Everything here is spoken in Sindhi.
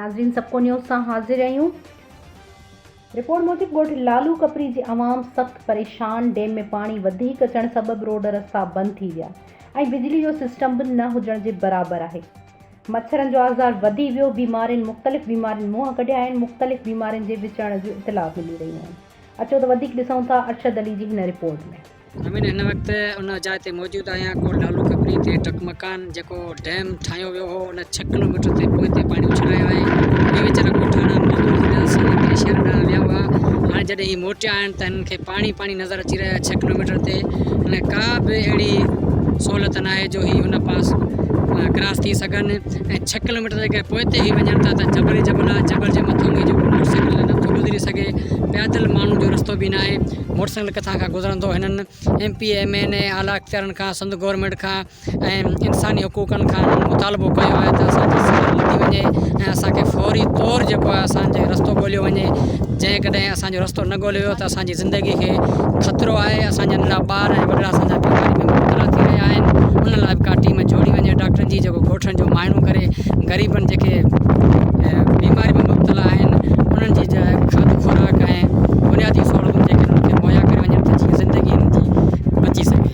ناظرين سبڪو نيوز سان حاضر آهيون رپورٽ موجب ڳوٺ لالو ڪپري جي عوام سخت پريشان ڊيم ۾ پاڻي وڌيڪ اچڻ سبب روڊ رستا بند ٿي ويا ۽ بجلي جو سسٽم به نه هجڻ جي برابر آهي مڇرن جو آزار وڌي ويو بيمارين مختلف بيمارين منهن ڪڍيا آهن مختلف بيمارين جي وچڙڻ جون اطلاع ملي رهيون آهن اچو ته وڌيڪ ڏسون ٿا ارشد علي جي هن رپورٽ ۾. امين هن وقت ان جاء تي موجود آهيان ڪوٽ لالو کپري تي ٽڪ مڪان جيڪو ڊيم ٺاهيو ويو هو ان ڇهه ڪلوميٽر تي پوئتي پاڻي اڇلايو آهي هي ويچارا ڳوٺاڻا مزور جي مدد سان اتي شهر ڏانهن ويا هئا هاڻي جڏهن هي موٽيا آهن ته هنن کي پاڻي پاڻي نظر اچي رهيو آهي ڇهه ڪلوميٽر تي هن ڪا به اهڙي سهولت ناهي جو هي هن پاس ڪراس ٿي سگهن ۽ ڇهه ڪلوميٽر جيڪڏهن پوئتي هي وڃن ٿا ته جبل ئي جبل آهي، جبل جي مٿان ۾ جيڪو موٽر سائيڪل هلي نٿو گذري سگهي، پيادل ماڻهن جو رستو به ناهي، موٽر سائيڪل ڪٿان کان گذرندو، هنن ايم پي، ايم اين اي، اعليٰ اختيارن کان، سنڌ گورنمينٽ کان ۽ انساني حقوقن کان هنن مطالبو ڪيو آهي ته اسان جي سگهڙ لڌي وڃي ۽ اسان کي فوري طور جيڪو آهي اسان جي رستو ڳوليو وڃي جيڪڏهن اسان اسان جو رستو نه ڳوليو ويو ته اسان جي زندگي کي خطرو آهي، اسان جا ننڍا ٻار ۽ وڏڙا اسان جا بيماري ۾ مبتلا ٿي رهيا آهن، انهن لاء به ڪا ٽيم جوڙي وڃي ڊاڪٽرن جي جيڪو ڳوٺن جو معائنو ڪري غريبن جيڪي بيماري ۾ مبتلا آهن انهن جي کاڌ خوراڪ ۽ بنيادي سهولتون جيڪي انهن کي مهيا ڪري وڃن ته جيئن زندگي انهن جي بچي سگهي.